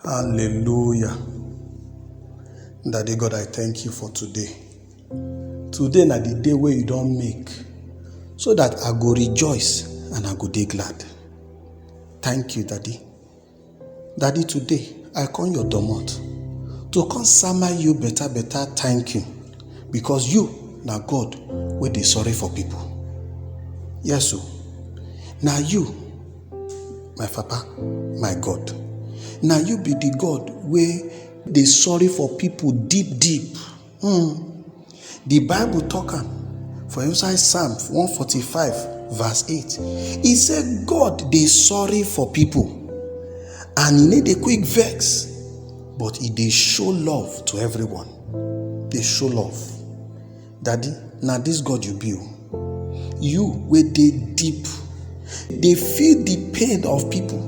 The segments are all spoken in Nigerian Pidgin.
Hallelujah. Daddy God, I thank you for today. Today na the day wey you don make so that I go rejoice and I go dey glad. Thank you, Daddy. Daddy, today I come your domot to come sama you better better thank you because you na God wey dey sorry for people. Yes o, na you my papa my god na you be the god wey dey sorry for people deep deep mm. the bible talk am for inside psalm 145 verse 8 e say god dey sorry for people and e no dey quick vex but e dey show love to everyone dey show love Daddy, na dis God you be o. You wey dey deep, dey feel di pain of pipo,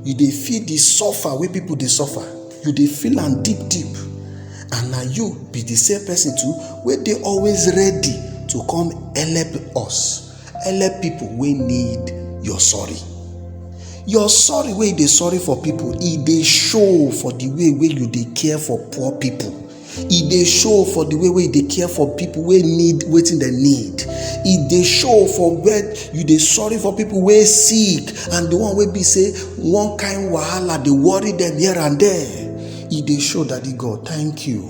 you dey feel di suffer wey pipo dey suffer, you dey feel am deep deep and na you be di same pesin too wey dey always ready to come helep us, helep pipo wey need your sorry. Your sorry wey you dey sorry for pipo, e dey show for di way wey you dey care for poor pipo. e dey show for the way wey you dey care for people wey need wetin dem need e dey show for where you dey sorry for people wey sick and the one wey be say one kind wahala dey worry them here and there e dey show daddy god thank you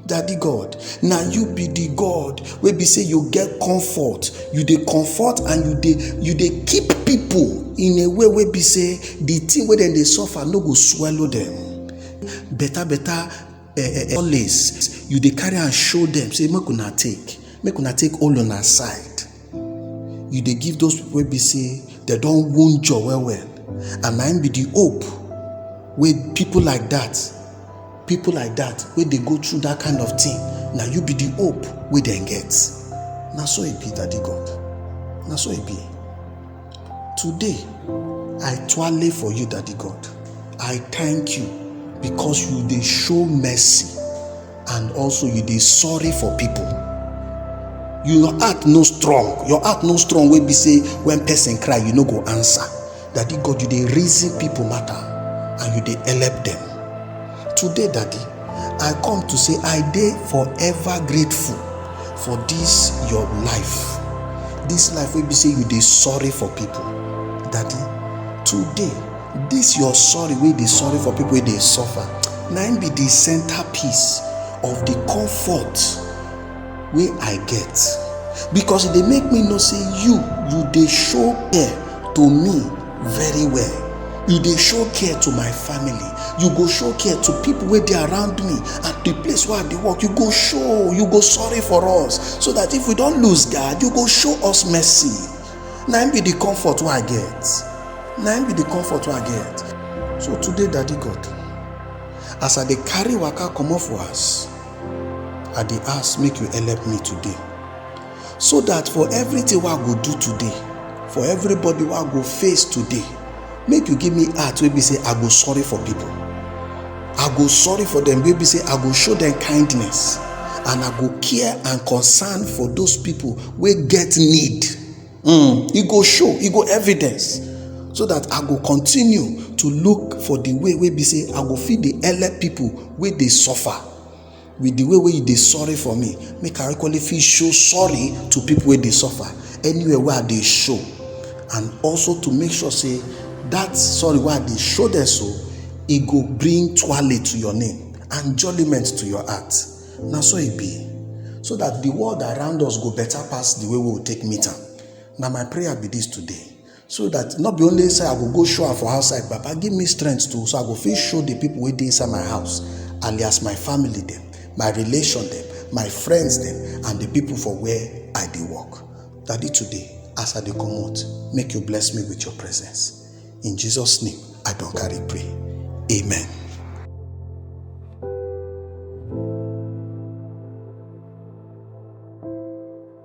daddy god na you be the god wey be say you get comfort you dey comfort and you dey you dey keep people in a way wey be say the thing wey dem dey suffer no go swallow them better better solace you dey carry am show dem say make una take make una take all una side you dey give those people wey be say dem don wound you well well and na im be the hope wey people like that people like that wey dey go through that kind of thing na you be the hope wey dem get na so e be daddy god na so e be Today, I twale for you, Daddy God. I thank you because you dey show mercy and also you dey sorry for people. Your heart no strong. Your heart no strong wey be say when person cry, you no go answer. Daddy God, you dey reason people matter and you dey help them. Today, Daddy, I come to say I dey forever grateful for this your life. This life wey be say you dey sorry for people. Daddy, today, this your sorry wey dey sorry for people wey dey suffer, na im be the centerpiece of the comfort wey I get. Because e dey make me know say you, you dey show care to me very well you dey show care to my family you go show care to people wey dey around me and the place where i dey work you go show you go sorry for us so that if we don lose guard you go show us mercy na im be the comfort wey i get na im be the comfort wey i get so today daddy god as i dey carry waka comot for house i dey ask make you help me today so that for everything wey i go do today for everybody wey i go face today make you give me heart wey be say i go sorry for people i go sorry for them wey be say i go show them kindness and i go care and concern for those people wey get need mm, e go show e go evidence so that i go continue to look for the way wey be say i go fit dey help people wey dey suffer with the way wey you dey sorry for me make i equally fit show sorry to people wey dey suffer anywhere wey i dey show and also to make sure say that sorry wey i dey show them so e go bring twale to your name and jollyment to your heart na so e be so that the world around us go better pass the way we take meet am na my prayer be this today so that not be only say i go go show am for outside baba give me strength too so i go fit show the people wey dey inside my house alias my family dem my relation dem my friends dem and the people for where i dey work daddy today as i dey comot make you bless me with your presence in jesus name i don carry pray amen.